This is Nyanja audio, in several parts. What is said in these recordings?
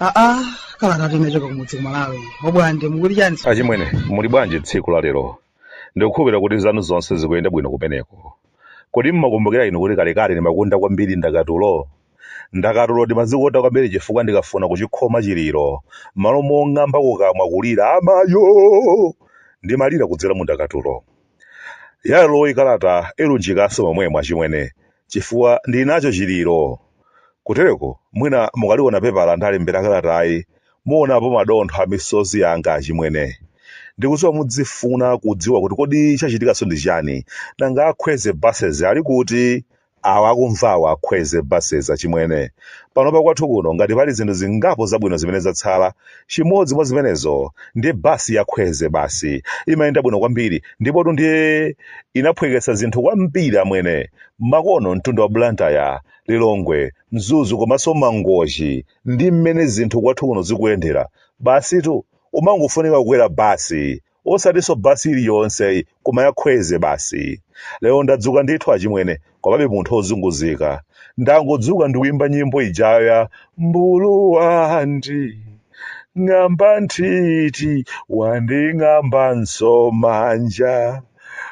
aa kalata kuchoka kumudzi kumalawi obwande mukuti chani achimwene muli bwanji tsiku la lero ndikukhulupirira kuti zanu zonse zikuyenda bwino kumeneko kodi mmakumbukira inu kuti kalekale ndimakonda kwambiri ndakatulo Ndakatulo ndimazikonda kwambiri chifukwa ndikafuna kuchikhoma chiliro, m'malo mong'amba kukamwa kulira amayoo! ndimalira kudzera mu ndakatulo. Yaleroyi kalata ilunjikanso momwemo achimwene, chifukwa ndili nacho chiliro. Kutereko mwina mukaliona pepala ndalembera kalatayi muonapo madontho a misozi yanga achimwene. Ndikudziwa mudzifuna kudziwa kuti kodi chachitikanso ndi chiyani, nanga a Khwezi Buses ali kuti? awa akumvawa akhwezi buses achimwene panopa kwathu kuno ngati pali zinthu zingapo zabwino zimene zatsala chimodzi mwa zimenezo ndi basi ya khwezi basi imayenda bwino kwambiri ndipotu ndiye inaphweketsa zinthu kwambiri amwene makono mtunda wa blantyre lilongwe mzuzu komanso mangochi ndi mmene zinthu kwathu kuno zikuyendera basitu umangofunika kukwera basi osatinso basi iliyonse koma ya khwezi basi lero ndadzuka ndithu achimwene komabe munthu ozunguzika ndangodzuka ndikuimba nyimbo ijayo ya mmbulu wanding'amba nthiti wanding'ambanso manja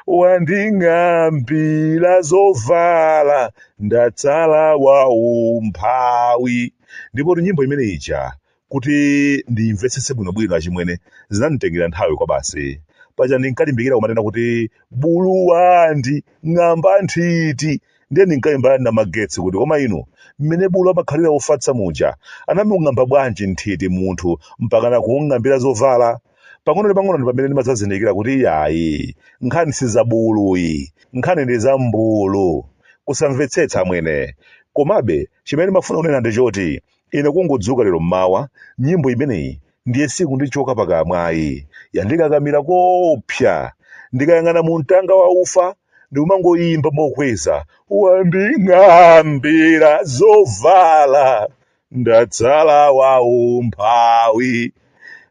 wanding'ambira zovala ndatsala wa umphawi ndipo nyimbo imene ija Kuti ndimvetsetse bwinobwino achimwene, zinanditengera nthawi kwabasi. Paja ndinkalimbikira kumanena kuti bulu wanding'amba nthiti. Ndiye ndinkalimbana ndi Namagetsi kuti koma inu, mmene bulu amakhalira wofatsa muja, anamung'amba bwanji nthiti munthu mpakana kumung'ambira zovala? Pang'ono ndi pang'ono ndi pamene ndimadzazindikira kuti iyayi, nkhani si za bulu ayi, nkhani ndi za mmbulu. Kusamvetsetsa amwene. Komabe, chimene ndimafuna kunena ndi choti, Ine kungodzuka lero mmawa, nyimbo imeneyi ndiye sikundichoka pakamwa ayi, yandikakamira koopsa. Ndikayang'ana mumtanga wa ufa, ndikumangoimba mokweza, Wanding'ambira zovala, ndatsala waumphawi.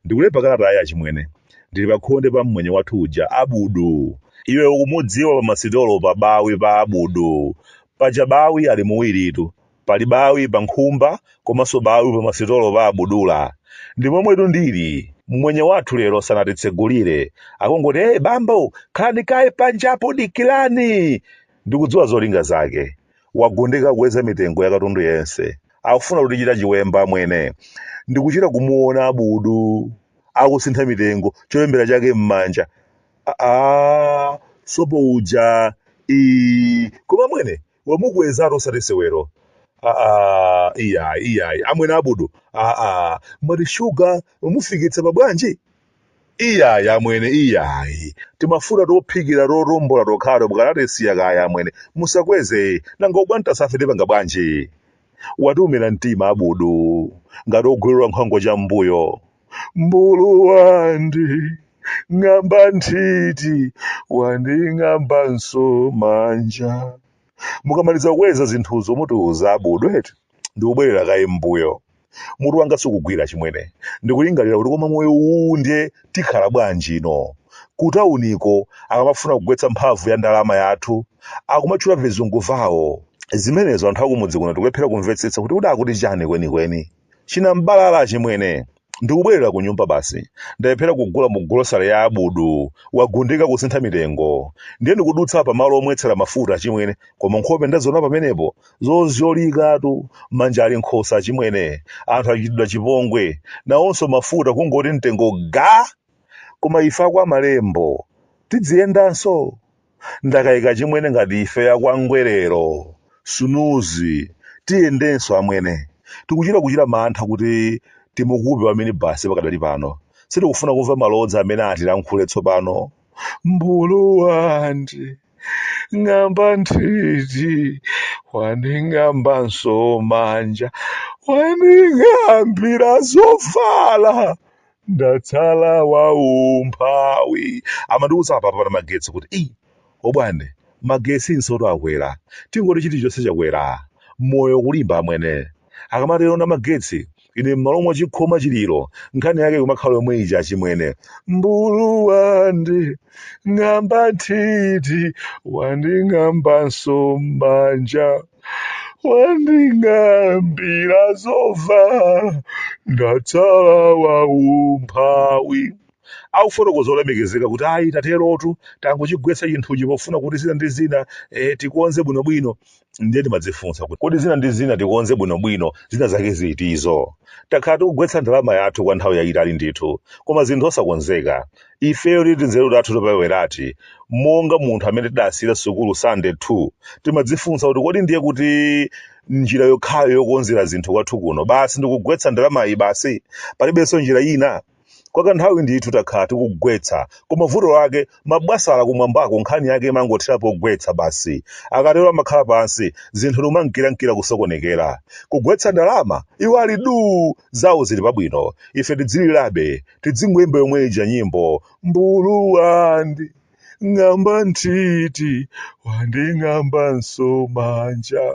Ndikulemba kalatayi achimwene, ndili pakhonde pa mmwenye wathu uja, Abudu. Iwe ukumudziwa pamasitolo pa Bawi pa Abudu, paja Bawi ali muwiritu. Pali bawi pa nkhumba komanso bawi pa masitolo pa abudula. Ndi momwetu ndili. Mmwenye wathu lero sanatitsegulire. Akungoti hey bambo, khalani kaye panjapo dikilani! Ndikudziwa zolinga zake. Wagundika kukweza mitengo ya katundu yense. Akufuna kutichita chiwemba amwene. Ndikuchita kumuona abudu akusintha mitengo cholembera chake mmanja. Aaa, sopo uja. Iii, koma amwene, wamukwezatu osati sewero aa iyayi iyayi amwene abudu aa mwati shuga wamufikitsa pa bwanji iyayi amwene iyayi timafuta tophikira totombola tokhato mukanatisiya kaye amwene musakweze nanga ubwantasafe tipanga bwanji watiumira mtima abudu ngati ogwirira nkhwango chambuyo mbulu wanding'amba nthiti wanding'ambanso manja mukamaliza kukweza zinthuzo mutiuza abudu eti ndikubwerera kaye mbuyo mutu wanga sukugwira achimwene ndikulingalira kuti koma moyo uwu ndiye tikhala bwanji ino kutauniko akamafuna kugwetsa mphamvu ya ndalama yathu akumatchula vizungu vawo zimenezo anthu akumudzi kuno tikulephera kumvetsetsa kuti uda akuti chani kwenikweni chinambalala achimwene ndikubwerera ku nyumba basi ndalephera kugula mu golosale ya abudu wagundika kusintha mitengo ndiye ndikudutsa pa malo omwetsera mafuta achimwene koma nkhope ndaziona pamenepo zozyolikatu manja ali m'khosi achimwene anthu achitidwa chipongwe nawonso mafuta kungoti mtengo ga koma ife akwa malembo tidziyendanso ndakaika achimwene ngati ife a kwa ngwerero sunuzi tiyendenso amwene tikuchita kuchita mantha kuti timukupe wa minibus pakadali pano sitikufuna kumva malodza amene atilankhule tsopano mbulu wanding'amba nthiti wanding'ambanso manja wanding'ambira zovala ndatsala waumphawi amandiuza apapa pa magetsi kuti eyi obwande magetsi nsotu akwera tingoti chilichonse chakwera moyo kulimba amwene akamatero na magetsi ine m'malo mwa chikhoma chiliro nkhani yake kumakhala yomwe ija achimwene mbulu wanding'amba nthiti wanding'ambanso manja wanding'ambira zovala ndatsala waumphawi akufotokoza olemekezeka kuti ayi taterotu tangochigwetsa chinthuchi pofuna kuti zina ndi zina eh, tikonze bwinobwino ndiye timadzifunsa kuti kodi zina ndi zina tikonze bwinobwino zina zake zitizo takhala tikugwetsa ndalama yathu kwa nthawi yayitali ndithu koma zinthu osakonzeka ifeyo ndi tinzeru tathu toperewerati monga munthu amene tidasiyira sukulu sitandade 2 timadzifunsa kuti kodi ndiye kuti njira yokhayo yokonzera zinthu kwathu kuno basi ndikugwetsa ndalamayi basi palibenso njira ina kwa kanthawi ndithu takhala tikugwetsa koma vuto lake mabwasala kumwambako nkhani yake imangothera pogwetsa basi akatero amakhala pansi zinthu ndikumankirankira kusokonekera kugwetsa ndalama iwo ali duu zawo zili pabwino ife tidzilirabe tidzingoyimba yomwe ija nyimbo mbulu wanding'amba nthiti wanding'ambanso manja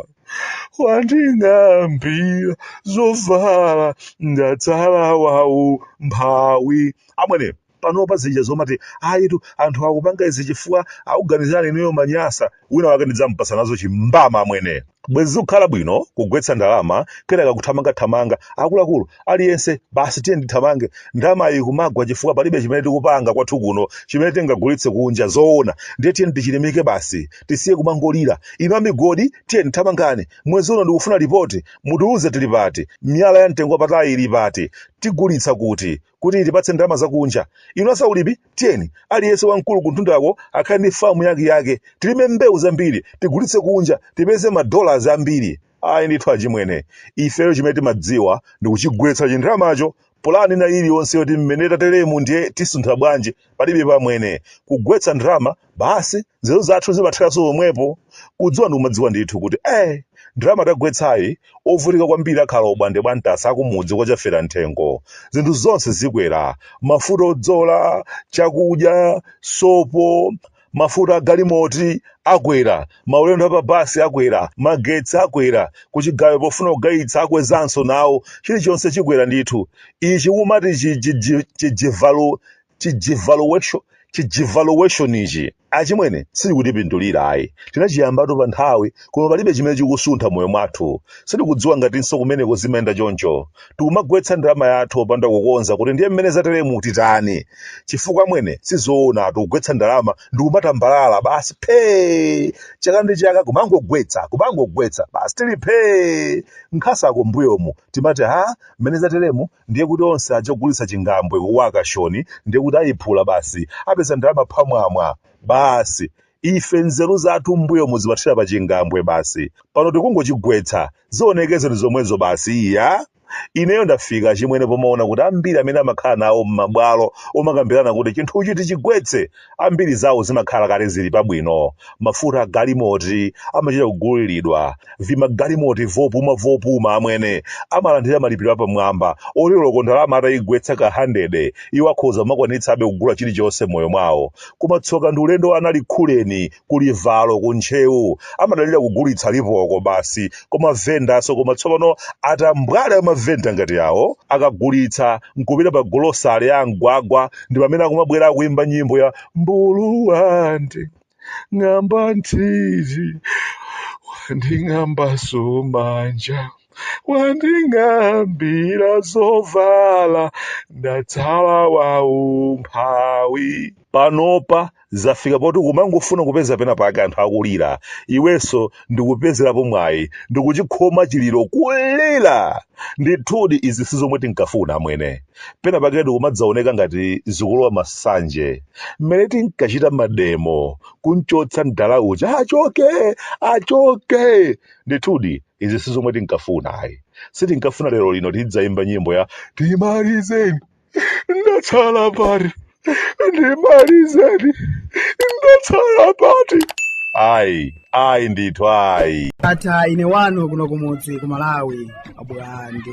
wanding'ambira zovala ndatsala waumphawi amwene panopa zija zomati ayitu anthu akupanga izi chifukwa akuganizirani inuyo manyasa wina wake ndidzampatsa nazo chimbama amwene bwezi zikukhala bwino kugwetsa ndalama kenaka kuthamangathamanga akuluakulu aliyense basi tiyeni tithamange ndalamayi ikumagwa chifukwa palibe chimene tikupanga kwathu kuno chimene tingagulitse kunja zoona ndiye tiyeni tichilimike basi tisiye kumangolira inu amigodi tiyeni thamangani mwezi uno ndikufuna lipoti mutiuze tili pati miyala ya mtengo wapatali ili pati tigulitsa kuti kuti itipatse ndalama zakunja inu azaulimi tiyeni aliyense wamkulu kumtundako akhale ndi famu yake yake tilime mbewu zambiri tigulitse kunja tipeze madollars ambiri ayi ndithu achimwene ifeyo chimene timadziwa ndi kuchigwetsa chindalamacho pulani ina iliyonse yoti mmene tateremu ndiye tisuntha bwanji palibepo amwene kugwetsa ndalama basi nzeru zathu zimatheranso pomwepo kudziwa ndi kumadziwa ndithu kuti eh ndalama tagwetsayi ovutika kwambiri akhala obwande bwantasa akumudzi kwa chafera mthengo zinthu zonse zikwera mafuta odzola chakudya sopo mafuta agalimoti akwera maulendo apabasi akwera magetsi akwera kuchigayo pofuna kugayitsa akwezanso nawo chilichonse chikwera ndithu ichi umati chidevalu chidevaluation chidevaluation ichi achimwene silikutipindulira ayi tinachiyambatu pa nthawi koma palibe chimene chikusuntha m'moyo mwathu sitikudziwa ngatinso kumeneko zimayenda choncho tikumagwetsa ndalama yathu popanda kukonza kuti ndiye mmene zateremu titani chifukwa amwene sizoona tikugwetsa ndalama ndikumatambalala basi phee chaka ndi chaka kumangogwetsa kumangogwetsa basi tili phee nkhasako mbuyomu timati ha mmene zateremu ndiye kuti onse aja ogulitsa chingambwe ku auction ndiye kuti ayiphula basi apeza ndalama phamwamwa basi ife nzeru zathu mbuyomu zimathera pa chingambwe basi pano tikungochigwetsa zionekeze ndi zomwezo basi iya ineyo ndafika achimwene pomaona kuti ambiri amene amakhala nawo m'mabwalo omakambirana kuti chinthuchi tichigwetse Ambiri zawo zimakhala kale zili pabwino, mafuta agalimoti amachita kuguliridwa, vimagalimoti vopuma vopuma, amwene, amalandira malipiro apamwamba oti oloko ndalama ataigwetsa kahandede, iwo akhoza kumakwanitsabe kugula chilichonse m'moyo mwawo. Koma tsoka ndi ulendo wa anali khuleni kulivalo ku ntcheu amadalira kugulitsa lipoko basi ku mavendaso koma tsopano atambwali amavenda ngati awo akagulitsa nkupita pa golosale ya amgwagwa ndi pamene akumabwera akuimba nyimbo ya mbulu wanding'amba nthiti wanding'ambaso manja wanding'ambira zovala ndatsala waumphawi panopa zafika poti kumangofuna kupeza pena pake anthu akulira iwenso ndikupezerapo mwayi ndikuchikhoma chiliro kulira ndithudi izi si zomwe tinkafuna amwene pena pake ndikumadzaoneka ngati zikulowa masanje mmene tinkachita mademo kunchotsa mdala uja achoke achoke ndithudi izi si zomwe tinkafuna ayi sitinkafuna lero lino tidzayimba nyimbo ya ndimalizeni ndatsala pati ndimalizeni ndatsala pati ayi ayi ndithu ayi ndatha ine wanu kuno kumudzi ku malawi abulande